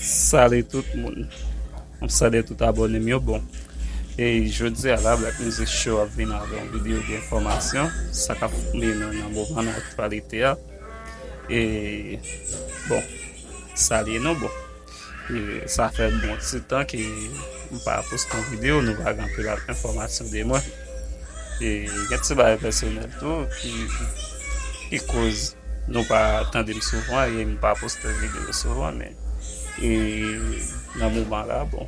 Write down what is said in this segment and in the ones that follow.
Salut tout moun Map salye tout abòne m yo bon e jodia la black music show ap vin avè yon video de enfòmasyon sa kap tonbe nan nan moman nan aktyalite a e bon salye nou bon e sa fè bon ti tan ke m pa poste yon video nou pa gen anpil enfòmasyon de mwen. Gen ti bagay pèsonèl tou ki koz nou pa tande m souvan e m pa poste videyo souvan men nan moman la bon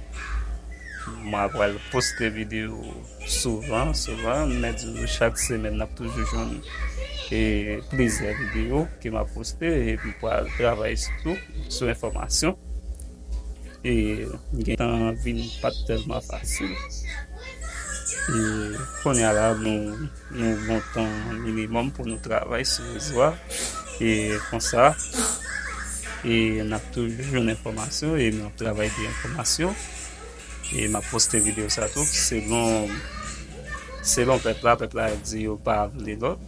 mwen pral poste videyo souvan souvan m mèt di nou chak semèn nap toujou jwenn plizyè videyo ke map poste e m pral travay sou tou sou enfòmasyon. e gentan vin pat tèlman fasil e konnya la nou nou gon tan minimòm pou nou travay sou rezo a e konsa e nap toujou jwenn enfòmasyon e nap travay de enfòmasyon e map poste video sa tou selon selon pèp la, pèp la di yo pa vle lòt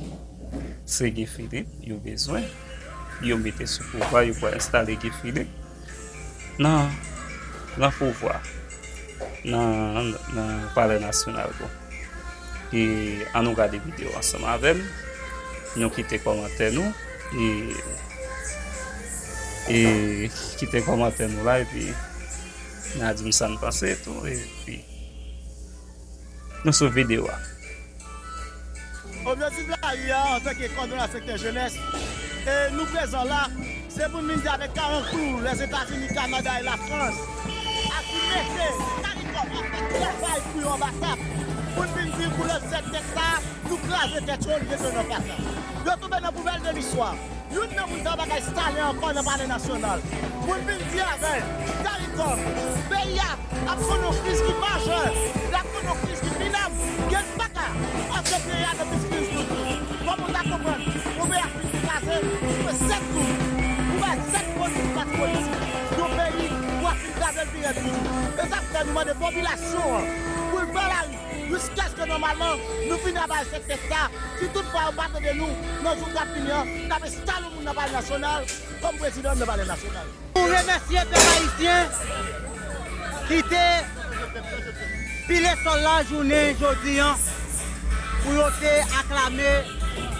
se Guy Philippe yo bezwen yo mete sou pouvwa yo pral enstale Guy Philippe. Nan nan pouvwa nan nan palè nasyonal bon e an nou gade video ansanm avèm nou kite kòmantè nou e e kite kòmantè nou la epi na dim sa nou panse tou epi. nou sou video a. Objektif lari a antanke kòdonay sektè jenès e nou prezan la se pou n vin di avèk karanklou Lèzetazini, Kanada e Lafrans a ki mete caricom ap fè travay pou yo anba tab pou n vin di pou lòt zèdnèt sa a nou kraze tèt yo li gen tan nou nan paka. Yo tonbe nan poubèl de listwa. Youn nan moun sa pa ka estale ankò nan palè nasyonal. Pou n fin di avè l, Caricom, peyi a ap konn yon kriz ki majè, l ap konn yon kriz ki minab, gen n pa ka pase peyi a nan plis kriz toujou. Kòman w ka konprann yon peyi ap fin kraze, ou jwe 7 tou, ou bay 7 polis pou pati politik yon peyi pou ap fin kraze l pi rèd toujou? E sa k fè nou mande popilasyon an pou l pran lari. jiskèske nòmalman nou fini ap bay sèt tèks sa, si tout fwa yo pa tande nou nan jou kap vini an, nap enstale moun nan palè nasyonal kòm prezidan nan palè nasyonal. Nou remèsye pèp ayisyen ki te pile sòl la jounen jodi an pou yo te aklame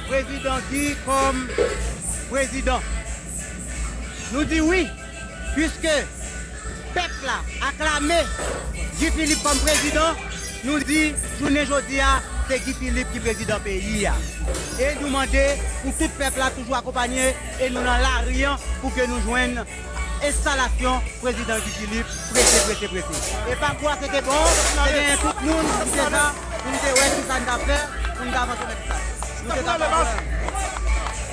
prezidan Guy kòm prezidan. Nou di wi! Puiske pèp la aklame Guy Philippe kòm prezidan, nou di jounen jodi a se Guy Philippe ki prezidan peyi a. E nou mande pou tout pèp la toujou akonpanye e nou nan lari an pou ke nou jwenn enstalasyon prezidan Guy Philippe prese prese prese. E pakou a se te bon, te genyen tout moun ki te la pou nou te wè kisa nou t ap fè pou nou t avanse nan kisa. Nou te ta pran pwen.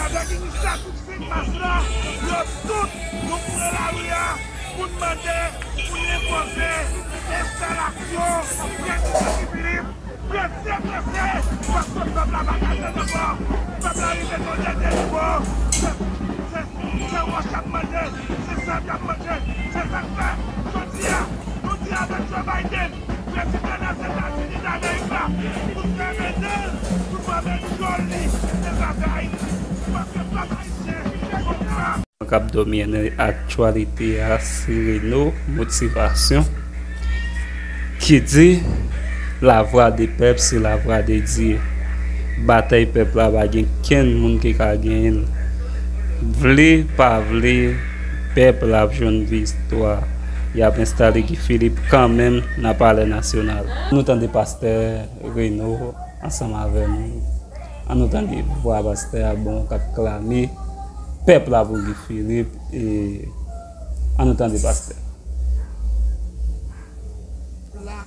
Avèk inisyativ Senmas la, yo tout nou pran lari a pou n mande, pou n enpoze enstalasyon Denis Sassy Philippe prese prese paske pèp la pa ka tann ankò. Pèp la rive nan yon dènye nivo, se wòch y ap manje, se sab y ap manje. Se sa k fè jodi a nou di avèk Joe Biden. Prezidan Lèzetazini Damerik la fout fèmen nen l sou vòlè dyòl li te zafè Ayiti paske pèp Ayisyen twò gra. Nou kap dòmi nan aktyalite a se Reno Motivation ki di La Voix de Peuple c'est la Voix de Dieu batay pèp la pa gen kenn moun ki ka genyen l vle pa vle pèp la ap jwenn viktwa. Yap enstale Guy Philippe kanmenm nan palè nasyonal. Nou tande pastè Reno ansanm avè nou an nou tande vwa pastè a bon kap klame pèp la pou Guy Philippe e an nou tande pastè. la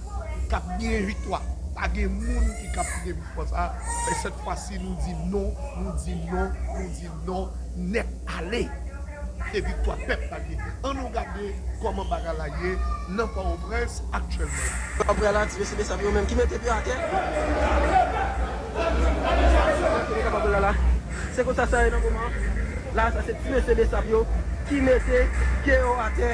kap genyen viktwa pa gen moun ki kap gen viktwa sa men sèt fwa si nou di non nou di non nou di Non nèt ale e viktwa pèp la ye. An nou gade kòman bagay la ye nan Pòwoprens aktyèlman. Apre l aktive se besap yo menm ki mete pye atè. Kote kapab la la. Se konsa sa ye nan moman la sa se ti mesye besap yo ki mete pye yo atè.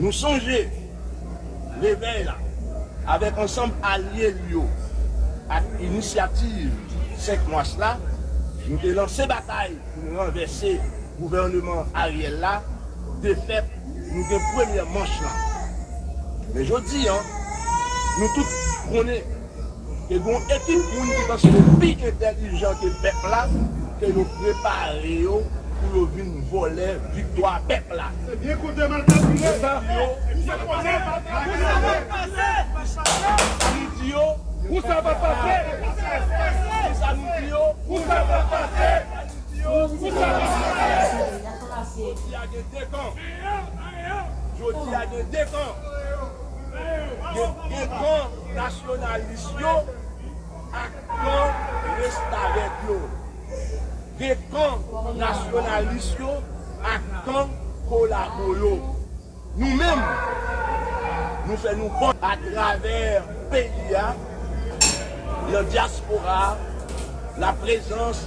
Nou sonje, Revèy la, avèk ansanm alye l yo ak Inisyativ 5 Mas la, nou te lanse batay pou n ranvèse gouvèneman Ariel la, defèt nou gen premyè manch lan. Men jodi an, nou tout konnen. Ke gen yon ekip moun ki panse yo pi entèlijan ke pèp la, ke yo prepare yo pou yo vin vòlè viktwa pèp la. Nasyonalis yo ak kan restavèk yo. Gen kan nasyonalis yo ak kan kolabo yo. Nou menm, nou fè nou kont. Atravè peyi a, nan dyaspora a, laprezans.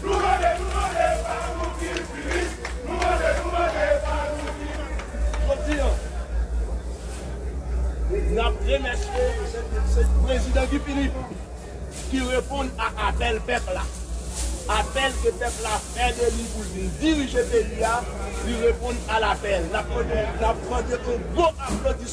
Nou mande, nou mande e pa nou ki pi rich Nou mande, nou mande e pa nou ki pi rich Jodi an, n ap remèsye se Prezidan Guy Philippe ki reponn a apèl pèp la. Apèl ke pèp la fè de li pou l vin dirije peyi a, li reponn a lapèl. N ap mande yon gwo aplodisman.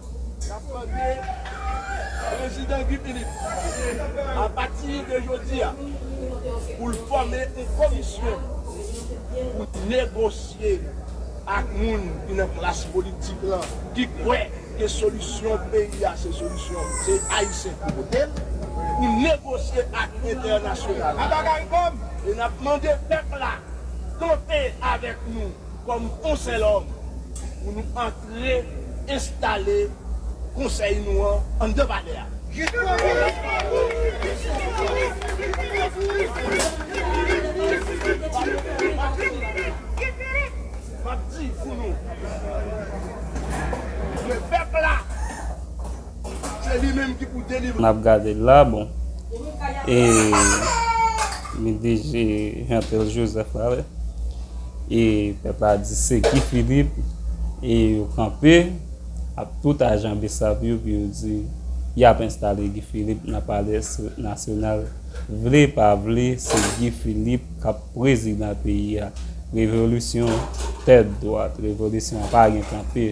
Nap mande Prezidan Guy Philippe apati de jodi a pou l fòme yon komisyon pou negosye ak moun ki nan klas politik lan ki kwè ke solisyon peyi a se solisyon se Ayisyen ki pote l, pou negosye ak entènasyonal la e nap mande pèp la kanpe avèk nou kòm yon sèl òm pou nou. Re, enstale konsèy nou an anndan palè a. Map di pou nou. Ke pèp la. Nap gade la bon e li deje jantel joseph la wi e pèp la di se guy philippe e yo kanpe ak tout ajan bsap yo pou yo di yap enstale guy philippe nan palè nasyonal vle pa vle se guy philippe kap prezidan peyi a revolisyon tèt dwat revolisyon pa gen kanpe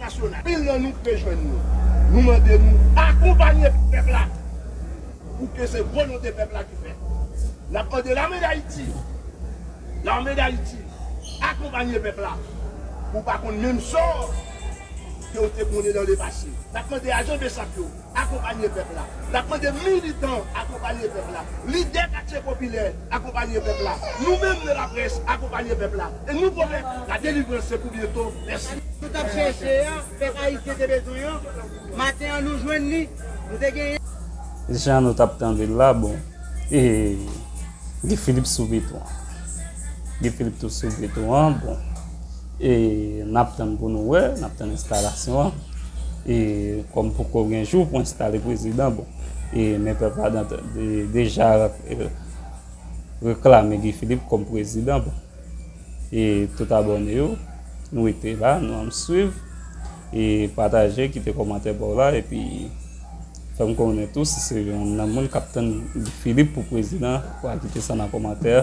nasyonal. Pil nan nou pe jwenn nou. Nou mande nou akonpanye pèp la pou ke se volonte pèp la ki fèt. N ap mande lame dayiti, lame dayiti akonpanye pèp la pou pa konn menm sò ke ou te konnen nan le pase. N ap mande ajan besap yo. akonpanye pèp la. N ap mande militan akonpanye pèp la, lidè katye popilè akonpanye pèp la, nou menm nan laprès akonpanye pèp la e nou pwomèt la delivrans se pou byento. Mèsi. Nou t ap chèche a, pèp ayisyen te bezwen an, maten an nou jwenn li, nou te genyen. Jan nou t ap tande l la, bon, e Guy Philippe sou beton an. Guy Philippe tou sou beton an, bon. E nap tann pou nou wè, nap tann enstalasyon an. E kòm poko gen jou pou enstale prezidan bon. E men pèp la deja reklame Guy Philippe kòm prezidan bon. E tout abòne yo, nou rete la, nou ann swiv. E pataje, kite kòmantè baw la. E pi fèm konnen tou si se youn nan moun kap tann Guy Philippe pou prezidan, ou pa kite sa nan kòmantè.